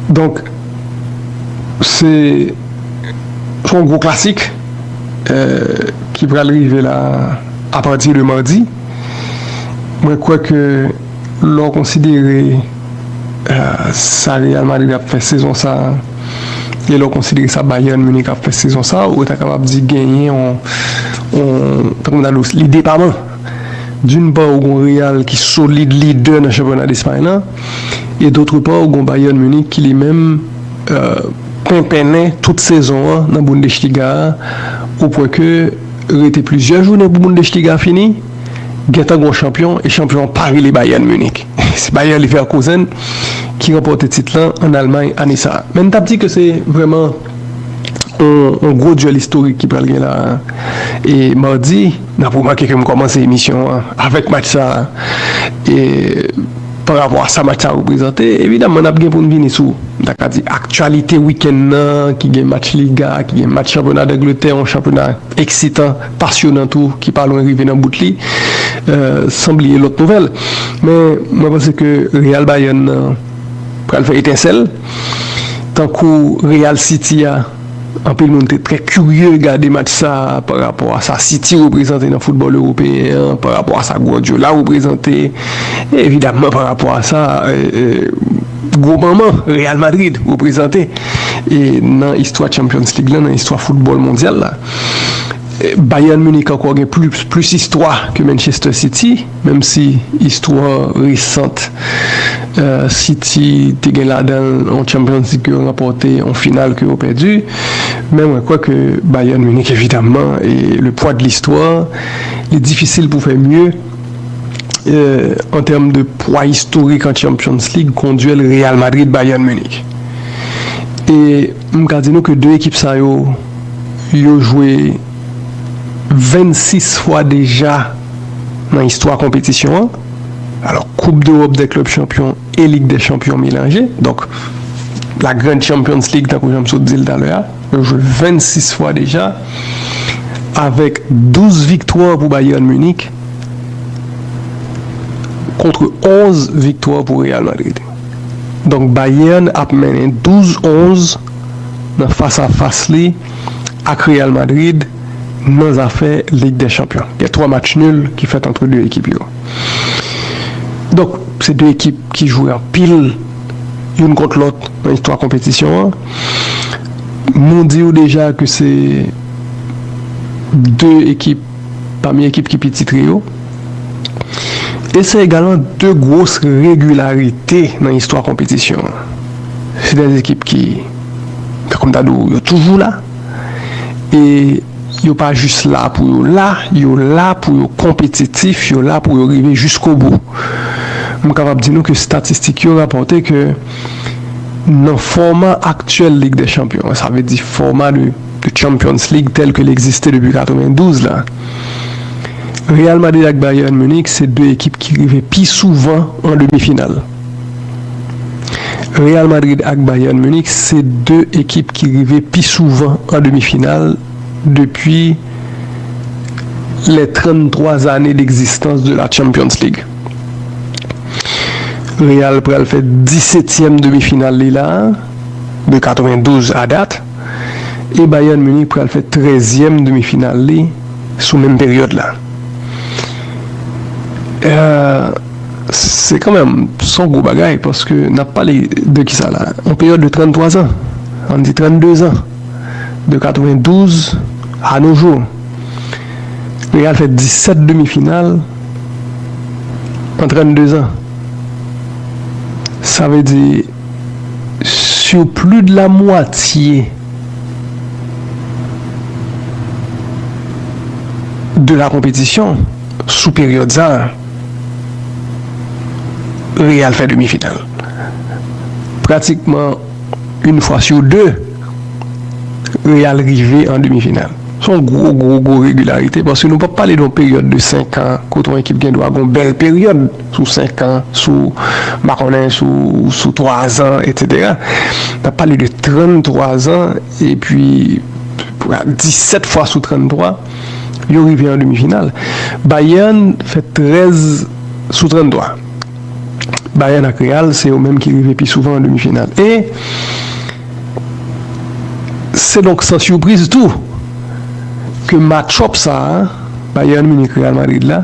Donk se son gwo klasik ki pral rive la a pati de madi. Mwen kwè ke lè w konsidere sa Real Madrid ap fè sezon sa a e lè w konsidere sa Bayern Munich ap fè sezon sa a, ou ta kapab di genyen yon, tankou m ta di w, li depaman. D'une part ou gon Real ki solid lidè nan chanpyona Despay lan e d'autre part ou gon Bayern Munich ki li menm penpennen tout sezon an nan Bundesliga a o pwen ke rete plizyè jounen pou Bundesliga fini gentan gon chanpyon e chanpyon an pa rele Bayern Munich se Bayer Leverkusen ki ranpòte tit lan an Allemagne ane sa a men m tap di ke se vrèman On gwo duel istorik ki pral gen la e mardi nap remake ke m komanse emisyon an avek match sa e pa rapo a sa match sa reprezante evidaman nap gen pou n vini sou m ta ka di aktyalite weekend nan ki gen match liga ki gen match chanpyona dangletè yon chanpyona eksitan pasyonan tou ki pa lwen rive nan bout li san bliye lot nouvel men mwen panse ke real bayern nan. pral fè etensèl tankou Real City a, anpil moun te trè kirye gade match sa pa rapò a sa City reprezante nan foutbòl ewopeyen an, pa rapò a sa Guardiola reprezante, e evidamman pa rapò a sa gwo manman Real Madrid reprezante nan istwa Champions League lan, nan istwa foutbòl mondyal la. Bayern Munich ankò gen plis istwa ke Manchester City. Menm si istwa resant City te gen ladan l yon Champions League ke yo ranpòte, yon final ke yo pèdi, men mwen kwè ke Bayern Munich evidamman e le poids de l'histoire, li difisil pou fè mye an tèm de pwa istorik an Champions League kon duèl Real Madrid-Bayern Munich. E m ka di nou ke 2 ekip sa yo, yo jwe. 26 fwa deja nan istwa konpetisyon an, alò koup dewòp dè klèb chanpyon e lig dè chanpyon melanje, donk la grand champions league tankou jan m sot di l talè a, yo jwe 26 fwa deja, avèk 12 viktwa pou Bayern Munich kontre 11 viktwa pou Real Madrid. Donk Bayern ap mennen 12 11 nan fas a fas li. ak Real Madrid nan zafè Lig dè Chanpyon. Gen 3 match nul ki fèt antre 2 ekip yo. Donk, se 2 ekip ki jwe anpil youn kont lòt nan istwa konpetisyon an. Nou di ou deja ke se 2 ekip. pami ekip ki pi titre yo, e se egalman 2 gwos regilarite nan istwa konpetisyon an. Se 2 ekip ki, tankou m ta di w, yo toujou la, e yo pa jis la pou yo la, yo la pou yo konpetitif, yo la pou yo rive jiskobou. M kapab di nou ke statistik yo rapòte ke nan fòma aktyèl Lig dè Chanpyon an, sa vle di fòma de. de Champions League tèl ke l egziste depi 92 la, Real Madrid ak Bayern Munich se 2 ekip ki rive pi souvan an demi final. Real Madrid ak Bayern Munich se 2 ekip ki rive pi souvan an demi final depi les 33 années d'existence de la Champions League. Real pral fè 17 tièm demi final li la de 92 a dat. e Bayern Munich pral fè trèzyèm demi final li sou menm peryòd la. Se kanmenm son gwo bagay paske n ap pale de ki sa la? Yon peryòd de 33 zan, ann di 32 zan, de 92 a no jou. Real fè 17 demi final an 32 zan. Sa vle di. Sur plus de la moitié de la compétition, sou peryòd sa, Real fè demi final. Pratikman une fois sur deux, Real rive an demi final. Se yon gwo gwo gwo regilarite paske nou pa p pale de yon peryòd de 5 an kote yon ekip gen dwa gen yon bèl peryòd. sou 5 an, sou m pa konnen, sou sou 3 zan, etsetera. N ap pale de 33 zan epi 17 fwa sou 33, yo rive an demi final. Bayern fè 13 sou 33. Bayern ak Real se yo menm ki rive pi souvan an demi final. E se donk san sipriz tou ke match-up sa a, Bayern Munich-Real Madrid la,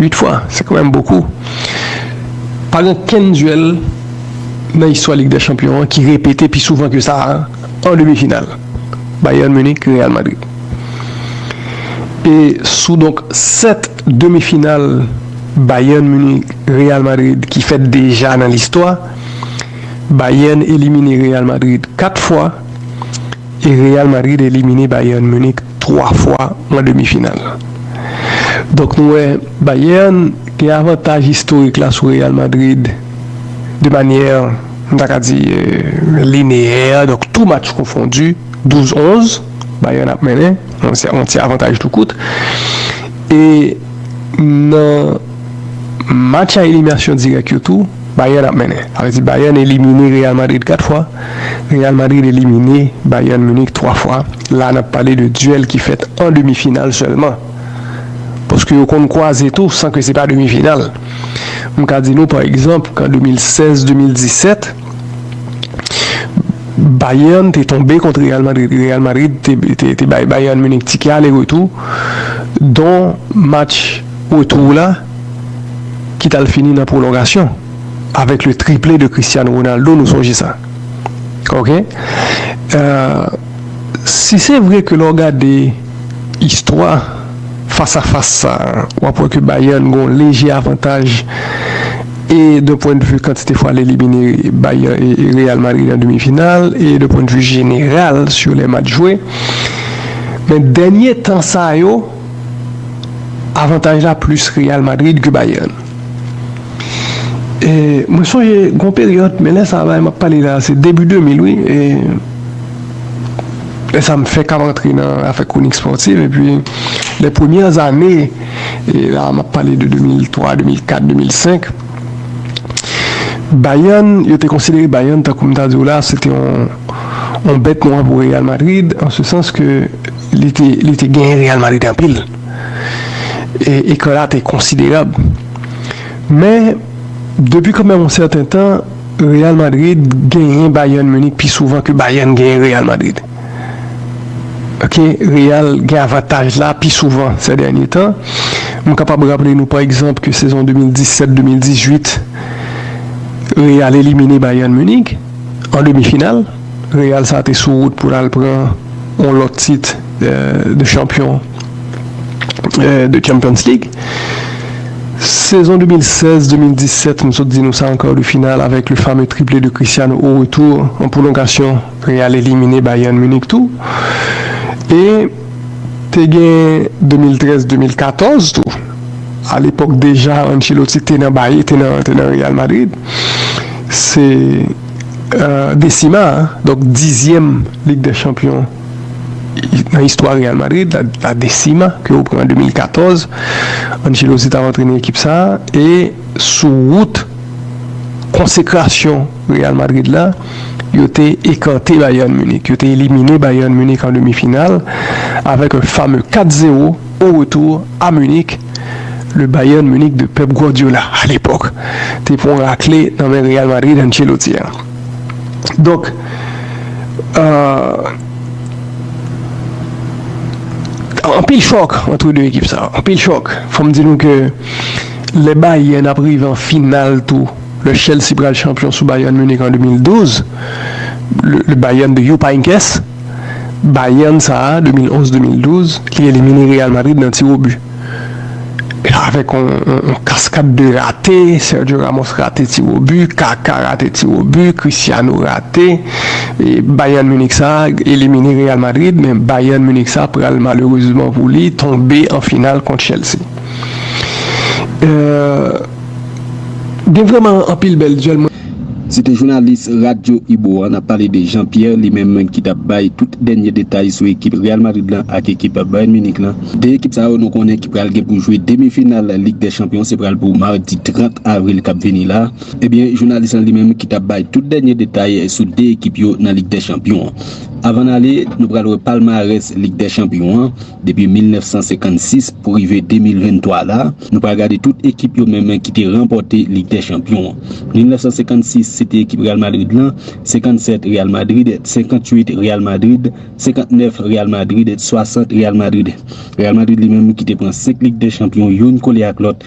8 fwa, se kan menm bokou. Pa gen okenn duèl nan istwa Lig dè Chanpyon an ki repete pi souvan ke sa a an demi final, Bayern Munich, Real Madrid. E sou donk 7 demi final Bayern Munich, Real Madrid ki fèt deja nan listwa, Bayern elimine Real Madrid 4 fwa, e Real Madrid elimine Bayern Munich 3 fwa an demi final. Donk nou wè Bayern gen avantaj istorik la sou Real Madrid de manyè m ta ka di lineyè, donk tou match konfondi 12 11 Bayern ap mennen, yon ti avantaj tou kout e nan match a eliminasyon dirèk yo tou. Bayern ap mennen. Sa vle di Bayern elimine Real Madrid 4 fwa, Real Madrid elimine Bayern Munich 3 fwa. La nap pale de duel ki fèt an demi final sèlman. Paske yo konn kwaze tou san ke se pa demi final. M ka di nou pa egzanp kan 2016, 2017 Bayern te tonbe kont Real Madrid. Real Madrid te bay Bayern Munich tike ale retou. Don match retou la. ki t al fini nan pwolongasyon avèk le triple de Cristiano Ronaldo nou sonje sa ok si se vre ke lè w gade istwa fas a fas sa w ap wè ke Bayern gen yon leje avantaj e de pwen de vi kantite fwa l elimine Bayern Real Madrid an demi final e de pwen de vi jeneral sou lè match jwe men dènye tan sa yo. avantaj la plis Real Madrid ke Bayern e mwen sonje gon peryòd men lè sa la map pale la se debi 2000 wi e lè sa m fèk ap rantre nan afè kwonik spòtif epi lè premyè zane e la map pale de 2003, 2004, 2005 Bayern yo te konsidere Bayern tankou m ta di w la se te yon bèt nwa pou Real Madrid an se sans ke Li te genyen Real Madrid anpil e ekran la te konsiderab. Men, depi kanmenm yon sèten tan, Real Madrid genyen Bayern Munich pi souvan ke Bayern genyen Real Madrid. Ok, Real gen avantaj la pi souvan sè dènye tan. M kapab raple nou pa egzanp ke sezon 2017, 2018, Real elimine Bayern Munich an demi final. Real sa te sou wout pou l al pran yon lòt tit de chanpyon de Champions League. Sezon 2016, 2017, m sot di nou sa an kar de final avèk le fame triple de Cristiano au retour, an pwolongasyon Real elimine Bayern Munich tou. E te gen 2013, 2014 tou, a lepòk deja Ancelotti te nan Real Madrid. Se. Decima, donk dizyèm Lig dè Chanpyon nan istwa Real Madrid, La Decima, ke yo pran an 2014. Ancelotti t ap antrene ekip sa a e sou wout konsekrasyon Real Madrid la, yo te ekante Bayern Munich, yo te elimine Bayern Munich an demi final avèk yon fame 4 zewo. O retour a Munich, le Bayern Munich de Pep Guardiola, a l'epòk, te pran rakle nan men Real Madrid Ancelotti a. Donk, anpil chòk antre 2 ekip sa yo, anpil chòk. Fò m di nou ke lè Bayern ap rive an final tou, lè Chelsea pral chanpyon sou Bayern Munich an 2012, le Bayern de Jupp Heynckes, Bayern sa a 2011-2012, li elimine Real Madrid nan tiwobi. Avèk yon kaskad de rate, Sergio Ramos rate tiwobi, Kaka rate tiwobi, Cristiano rate. Bayern Munich sa a elimine Real Madrid, men Bayern Munich sa a pral malerezman pou li tonbe an final kont Chelsea. Gen vrèman anpil bèl dyèl. Se te jounalis Radyo Ibo a, n ap pale de Jean Pierre, li menm ki t ap bay tout dènye detay sou ekip Real Madrid lan ak ekip Bayern Munich lan. 2 ekip sa yo nou konnen ki pral gen pou jwe demi final Lig dè Chanpyon se pral pou madi 30 avril k ap vini la. Ebyen jounalis lan li menm ki t ap bay tout dènye detay sou 2 ekip yo nan Lig dè Chanpyon an. Avan n ale, nou pral wè palmarès Lig dè Chanpyon an. Depi 1956 pou rive 2023 la, nou pral gade tout ekip yo menmen ki te ranpòte Lig dè Chanpyon an. 1956 se te ekip Real Madrid lan, 57 Real Madrid et 58 Real Madrid, 59 Real Madrid et 60 Real Madrid. Real Madrid li menm ki te pran 5 Lig dè Chanpyon youn kole ak lòt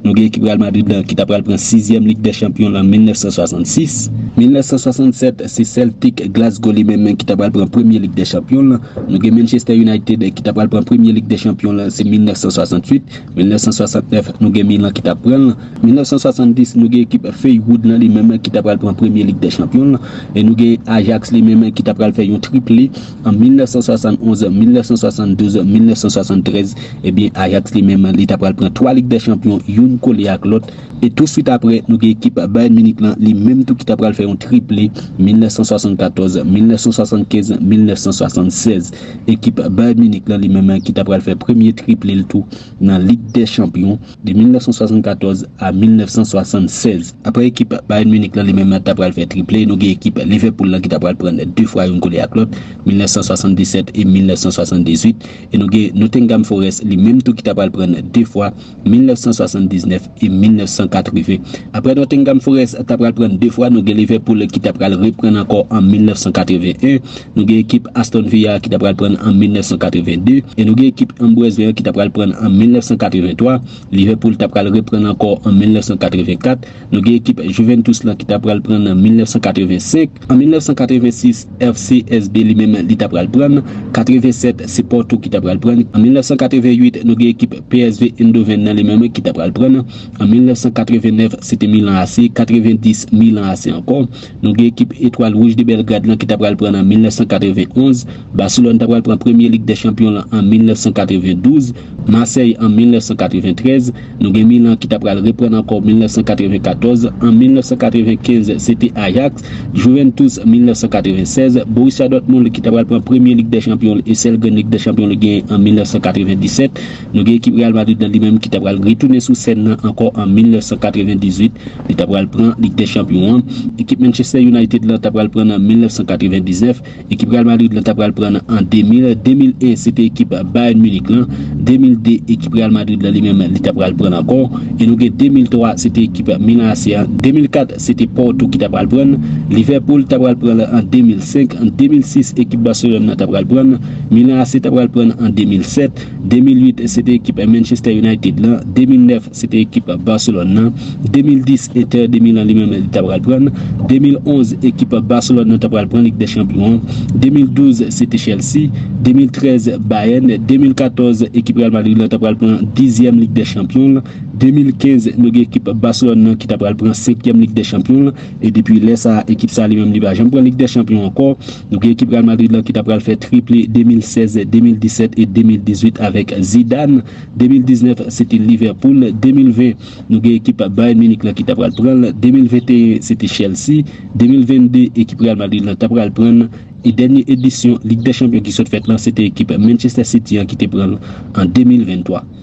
Nou gen ekip Real Madrid lan ki ta pral pran sizyèm Lig dè Chanpyon lan 1966. 1967, se Celtic Glasgow li menm ki ta pral pran premye Lig dè Chanpyon lan. Nou gen Manchester United ki ta pral pran premye Lig dè Chanpyon lan se 1968. 1969, nou gen Milan ki ta pran l. 1970, nou gen ekip Feywood lan li menm ki ta pral pran premye Lig dè Chanpyon lan. E nou gen Ajax li menm ki ta pral fè yon triple. An 1971, 1972, 1973, ebyen Ajax li menm li ta pral pran 3 Lig dè Chanpyon youn kole ak lòt, e tou swit aprè nou gen ekip Bayern Munich lan li menm tou ki ta pral fè yon triple 1974, 1975, 1976. Ekip Bayern Munich lan li menm ki ta pral fè premye triple l tou nan Lig dè Chanpyon. De 1974 a 1976, aprè ekip Bayern Munich lan li menm ta pral fè triple, nou gen ekip Liverpool lan ki ta pral pran 2 fwa youn kole ak lòt, 1977 e 1978, e nou gen Nottingham Forest li menm tou ki ta pral pran 2 fwa, 1979 e 1980. Aprè Nottingham Forest ta pral pran 2 fwa, nou gen Liverpool ki ta pral reprann ankò an 1981. Nou gen ekip Aston Villa ki ta pral pran l an 1982 e nou gen ekip Ambrez Lerr ki ta pral pran l an 1983. Liverpool ta pral repran l ankò an 1984. Nou gen ekip Juventus lan ki ta pral pran l an 1985. An 1986, FCSB li menm li ta pral pran l. 87, se Porto ki ta pral pran l. An 1988, nou gen ekip PSV Eindhoven nan li menm ki ta pral pran l. An 1989, se te Milan AC. 90, Milan AC ankò. Nou gen ekip Etwal Wouj de Bèlgrad lan ki ta pral pran l an 1991, Baselòn ta pral pran premye Lig dè Chanpyon lan an 1992, Masèy an 1993, nou gen Milan ki ta pral reprann ankò 1994, an 1995 se te Ajaks, Juventus 1996, Borussia Dortmund ki ta pral pran premye Lig dè Chanpyon l e sèl grenn Lig dè Chanpyon li genyen an 1997. Nou gen ekip Real Madrid nan li menm ki ta pral retounen sou sèn nan ankò an 1998, li ta pral pran Lig dè Chanpyon an. Ekip Manchester United lan ta pral pran nan 1999, ekip Real Madrid lan ta pral pran nan an 2000, 2001 se te ekip Bayern Munich lan, 2002 ekip Real Madrid lan li menm li ta pral pran l ankò e nou gen 2003 se te ekip Milan AC an, 2004 se te Porto ki ta pral pran l, Liverpool ta pral pran l an 2005, 2006 ekip Barcelone nan ta pral pran l, Milan AC ta pral pran l an 2007. 2008 se te ekip Manchester United lan, 2009 se te ekip Barcelone lan, 2010 Inter de Milan li menm li ta pral pran l, 2011 ekip Barcelone lan ta pral pran Lig dè Chanpyon an, 2012 se te Chelsea, 2013 Bayern, 2014 ekip Real Madrid lan ta pral pran dizyèm Lig dè Chanpyon l, 2015 nou gen ekip Barcelone lan ki ta pral pran senkyèm Lig dè Chanpyon l, e depi lè sa ekip sa li menm li pa janm pran Lig dè Chanpyon ankò. Nou gen ekip Real Madrid lan ki ta pral fè triple 2016, 2017 e 2018 avèk Zidane, 2019 se te Liverpool, 2020 nou gen ekip Bayern Munich lan ki ta pral pran l, 2021 se te Chelsea, 2022 ekip Real Madrid lan ta pral pran l e dènye edisyon Lig dè Chanpyon ki sot fèt lan se te ekip Manchester City an ki te pran l an 2023.